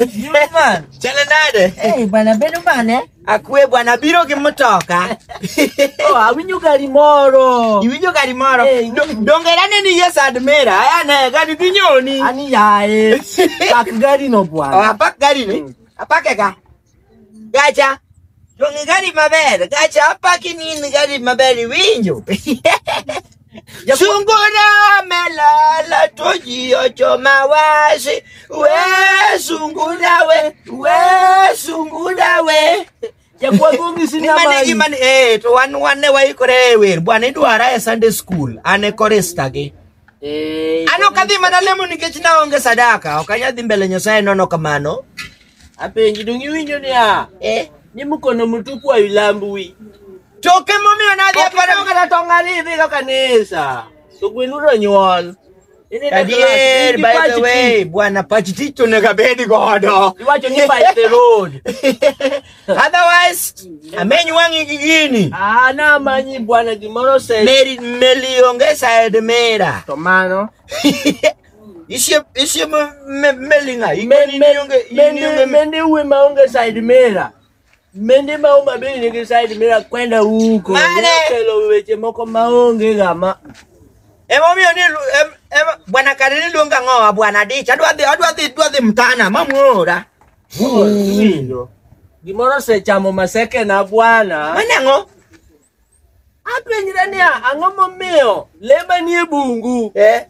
Yule man. Chale nade? Hey, bwana bedo mane? Akwe bwana biro gi mtoka. Oh, awinjo gari moro. Iwinjo gari moro. Hey. Do- Donge nane ni yes admira. Aya ne gari dhi nyoni. Ani yaye. Pak gari no Oh, bwana. apak gari ni. Apake ka. Gacha. Donge gari maber. Gacha apaki ni in gari maber iwinjo. Sungura melala to ji ochoma wasi. We sungura we. We sungura we. Jakuagongi sina Nimane mali. gimane eh to wan wane waikore e wer. Bwana idwara e Sunday school. An e korista gi. Eh, An ok adhi mana lemo nikech naonge sadaka. Ok anyadhi mbele Nyasaye nono kamano. Apenji donge iwinjo niya? Eh. Ni mkono mtupu hailambwi. Choke momiyo nadhi e Okiparo paro. kata tong' ariyo idhigo kanisa. To gwen udo nyuol. Ineno Adier, klas, in by the Pachiti. way, bwana Pachiti to onego abed godo. Iwacho ni by the road. Otherwise, ameny wang'i gi gini. Ah, na manyi bwana gimoro se. Meri meli onge side mera. To mano. Isie isie me- me- melinga Men- ingeni men- nionge mendi- inionge mendi uwe maonge side mirror mendi ma Homa Bay nigi side mirror kwenda huko Mane! nokelo weche moko maonge gama Emomiyo ni lu- em, em, bwana Karili luonga ng'owa bwana dich adwa dhi adwa dhi adwa dhi mtana mamuora. Iwinjo? gimoro osechamo masekena bwana Mane ng'o? Apenjre niya, ang'o momiyo le manie bungu Eh,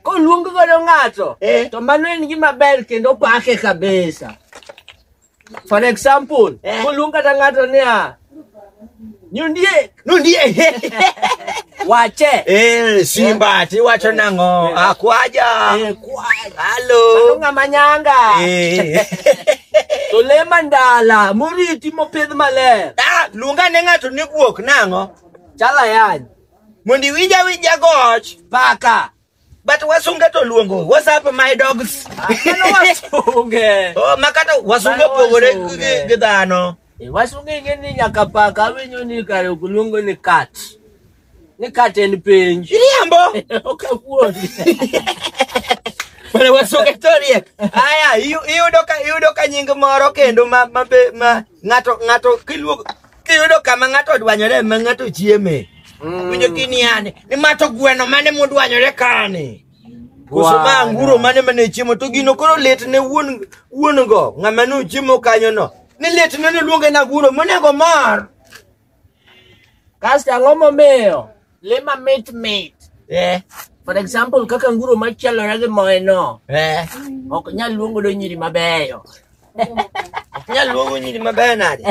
koluong godo ng'ato Eh. to mano en gima ber kendo pake kabisa. For example, Eh. koluong kata ng'ato niya, nyondiek, nundie. wache, Eh, Simba tiwacho nang'o? Akwaja. eh, kwal, Halo. mano ng'ama nyanga. Eh. To le mandala moriti mopidh maler. Ah, luonga ne ng'ato ni guok nang'o? Chal ayany. Mondo iwinja winja goch. Paka. But wasunge to luongo. What's up my dogs? Ah, mano wasunge. oh, makata wasunge opogore gi- gi dhano. Eh, Wasunge ing'e ni nyaka paka winyo ni kare ok luongo ni kat. Ni kata en penj. Iriambo. Ok apuonji. Mana wasunge to riek. Aya, iyu- iyudo ka iyudo ka nying moro kendo ma ma be ma ng'ato ng'ato kiluogo kiyudo kama ng'ato odwanyore ma ng'ato chieme. Winjo kini yani, ni mato gweno mane modwanyore kani. Koso ma anguro mane mane chiemo to gino koro lit ne wuon wuon go ng'ama nochiemo kanyo no. Ni lit ne noluonge na anguro monego mor. Kasto ang'o momiyo le mamit mit? Eh. For example, kaka nguro machalore gi moye no. Eh. Ok nyal luongo do nyiri mabeyo. Ok nyal luongo nyiri mabeyo nade?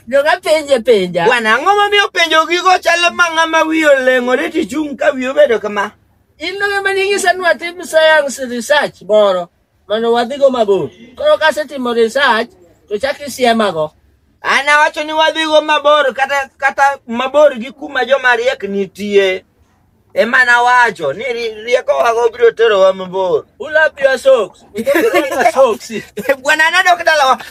Joga penje penja. Bwana, ang'o momiyo penjo gigo chalo ma ng'ama wiyo leng'ore tichung' ka wiyo bedo kama? In no ng'ama ning'isa nwatim science research moro. mondo wadhigo mabor. Koro kasetimo research to chak isiemago. An awacho ni wadhigo mabor kata kata mabor gi kuma joma riek nitie. Ema nawacho ni ri- riekowago biro terowa mabor. Ula pia socks. Ula pia socks. Bwana nadok dalawa.